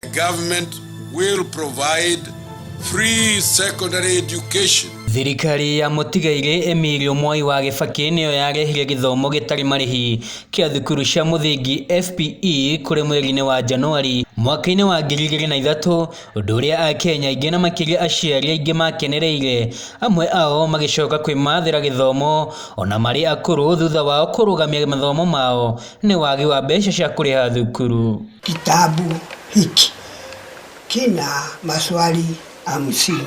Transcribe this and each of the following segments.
The government will provide free secondary education Thirikari ya mũtigairĩ Emilio Mwai wa Gĩbakĩ nĩyo yarehire gĩthomo gĩtarĩ marĩhi kĩa thukuru cia mũthingi FPE kũrĩ mweri-inĩ wa Januari mwaka-inĩ wa ngiri igĩrĩ na ithatũ, ũndũ ũrĩa Akenya aingĩ na makĩria aciari aingĩ makenereire, amwe ao magĩcoka kwĩmathĩra gĩthomo ona marĩ akũrũ thutha wao kũrũgamia mathomo mao nĩ wagi wa mbeca cia kũrĩha thukuru. Kitabu hiki kina maswali hamsini.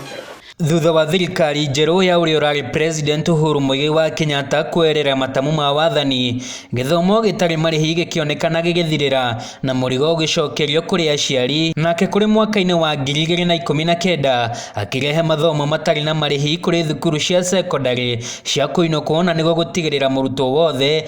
Thutha wa thirikari njerũ ya ũrĩa ũrarĩ president Uhuru Muigai wa Kenyatta kwerera matamu ma wathani, gĩthomo gĩtarĩ marĩhi gĩkĩonekana gĩgĩthirĩra na mũrigo ũgĩcokerio kũrĩ aciari. Nake kũrĩ mwaka-inĩ wa ngiri igĩrĩ na ikũmi na kenda akĩrehe mathomo matarĩ na marĩhi kũrĩ thukuru cia sekondarĩ cia kũinũkwo na nĩguo gũtigĩrĩra mũrutwo wothe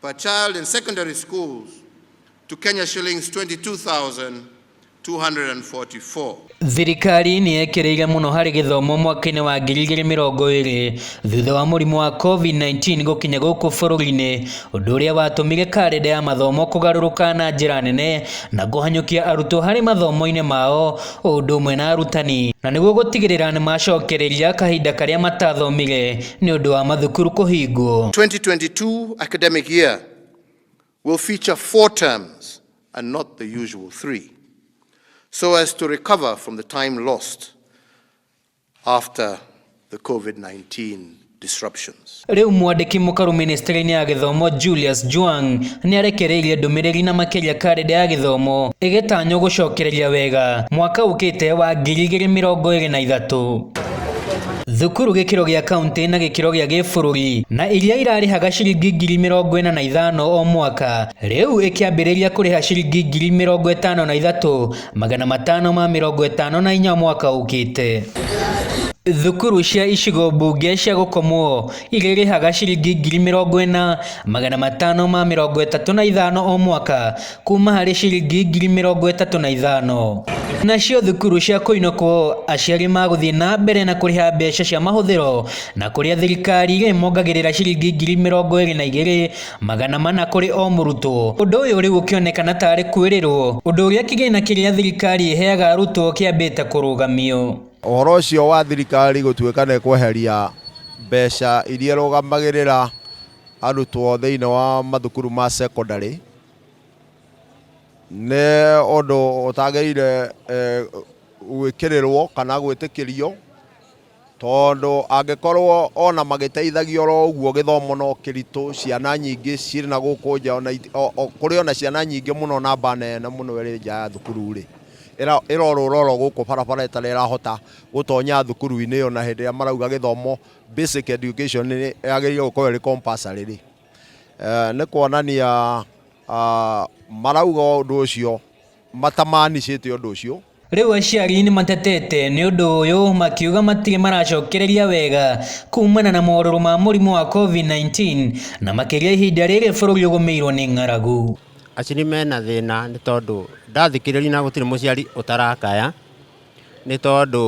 per child in secondary schools to Kenya shillings 22,000 244. Thirikari nĩ yekereire mũno harĩ gĩthomo mwaka-inĩ wa ngiri igĩrĩ mĩrongo ĩrĩ thutha wa mũrimũ wa COVID-19 gũkinya gũkũ bũrũri-inĩ, ũndũ ũrĩa watũmire karenda ya mathomo kũgarũrũka na njĩra nene na kũhanyũkia arutwo harĩ mathomo-inĩ mao o ũndũ ũmwe na arutani, na nĩguo gũtigĩrĩra nĩ macokereria kahinda karĩa matathomire. nĩ ũndũ wa mathukuru kũhingwo. 2022 academic year will feature four terms and not the usual three so as to recover from the time lost after the COVID-19 disruptions. Rĩu mwandĩki mũkaru ministry-inĩ ya gĩthomo Julius Juang nĩ arekereirie ndũmĩrĩri na makĩria karenda ya gĩthomo ĩgĩtanywo gũcokereria wega mwaka ũkĩte wa ngiri igĩrĩ mĩrongo ĩrĩ na ithatũ. thukuru gĩkĩro gĩa kaunti na gĩkĩro gĩa gĩbũrũri na iria irarĩhaga ciringi ngiri mĩrongo ĩna na ithano o mwaka rĩu ĩkĩambĩrĩria kũrĩha ciringi ngiri mĩrongo ĩtano na ithatũ magana matano ma mĩrongo ĩtano na inya mwaka ũkĩte thukuru cia icigo mbunge cia gũkomwo irĩrĩhaga ciringi ngiri mĩrongo ĩna magana matano ma mĩrongo ĩtatũ na ithano o mwaka kuuma harĩ ciringi ngiri mĩrongo ĩtatũ na ithano. Nacio thukuru cia kũinũkwo, aciari magũthiĩ na mbere na kũrĩha mbeca cia mahũthĩro na kũrĩa thirikari ĩrĩmongagĩrĩra ciringi ngiri mĩrongo ĩrĩ na igĩrĩ, magana mana kũrĩ o mũrutwo. Ũndũ ũyũ rĩu ũkĩonekana ta arĩ kwĩrĩrwo, ũndũ ũrĩa kĩgĩna kĩrĩa thirikari ĩheaga arutwo kĩambĩte kũrũgamio. Ũhoro ũcio wa thirikari gũtuĩka nĩ ĩkweheria mbeca iria irũgamagĩrĩra arutwo thĩinĩ wa mathukuru ma secondary, nĩ ũndũ ũtagĩrĩire eh, gwĩkĩrĩrwo kana gwĩtĩkĩrio tondũ angĩkorwo ona magĩteithagia oro ũguo gĩthomo no kĩritũ ciana nyingĩ cirĩ na gũkũ nja ona iti- o- o- kũrĩ ona ciana nyingĩ mũno namba nene mũno ĩrĩ nja ya thukuru-rĩ ĩra- ĩrorũra oro gũkũ barabara ĩtarĩ ĩrahota gũtonya thukuru-inĩ ĩyo na hĩndĩ ĩrĩa marauga gĩthomo basic education nĩ yagĩrĩire gũkorwo ĩrĩ compulsory-rĩ Eh, nä kuonania ah, marauga å ndå å cio matamanicä te å ndå å cio Rĩu aciari nĩ matetete nĩ ũndũ ũyũ makiuga matirĩ maracokereria wega kumana na morũrũ ma mũrimũ wa COVID-19 na makĩria ihinda rĩrĩ bũrũri ũgũmĩirwo nĩ ng'aragu. Aciri mena thĩna nĩ tondũ ndathikĩrĩria na gũtirĩ mũciari ũtarakaya. nĩ tondũ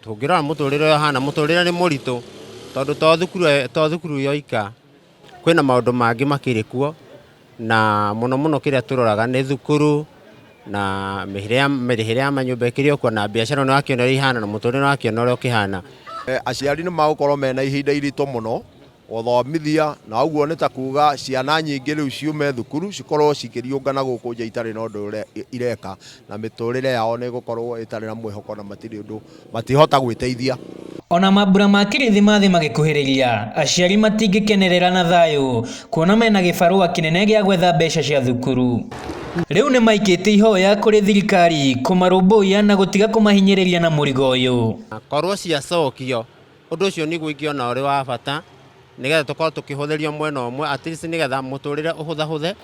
tũngĩrora mũtũrĩre ũyũ hana mũtũrĩre nĩ mũritũ tondũ to thukuru to thukuru yoika kwĩna maũndũ mangĩ makĩrĩ kuo na mũno mũno kĩrĩa tũroraga nĩ thukuru na mĩrĩhĩre ya mĩrĩhĩre ya manyũmba ĩkĩrĩ o kuo na biacara nĩ ũrakĩona ũrĩa ihana na mũtũrĩre nĩ ũrakĩona ũrĩa ũkĩhana. Aciari nĩ magũkorwo mena ihinda iritũ mũno Gũthomithia, na ũguo nĩ ta kuuga ciana nyingĩ rĩu ciume thukuru cikorũo cikĩriũngana gũkũ nja itarĩ na ũndũ ireka, na mĩtũũrĩre yao nĩ ĩgũkorũo ĩtarĩ na mwĩhoko na matirĩ ũndũ matingĩhota gwĩteithia. O na mambura ma Kirithimathi magĩkuhĩrĩria, aciari matingĩkenerera na thayũ kuona mena gĩbarũa kĩnene gĩa gwetha mbeca cia thukuru. Rĩu nĩ maikĩtie ihoya kũrĩ thirikari kũmarũmbũiya na gũtiga kũmahinyĩrĩria na mũrigo ũyũ. Korũo ciacokio, Ũndũ ũcio nĩguo ingĩona ũrĩ wa bata nĩgetha tũkorwo tũkĩhũthĩrio mwena ũmwe at least nĩgetha mũtũrĩre ũhũthahũthe.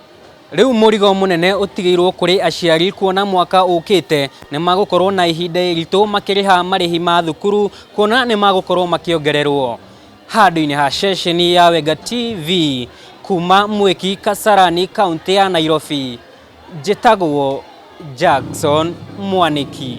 Rĩu mũrigo mũnene ũtigĩirwo kũrĩ aciari kuona mwaka ũkĩte nĩ magũkorwo na ihinda iritũ makĩrĩha marĩhi ma thukuru kuona nĩ magũkorwo makĩongererwo. Handũ-inĩ ha ceceni ya Wenga TV, kuma Mwiki Kasarani kaũntĩ ya Nairobi, njĩtagwo Jackson Mwaniki.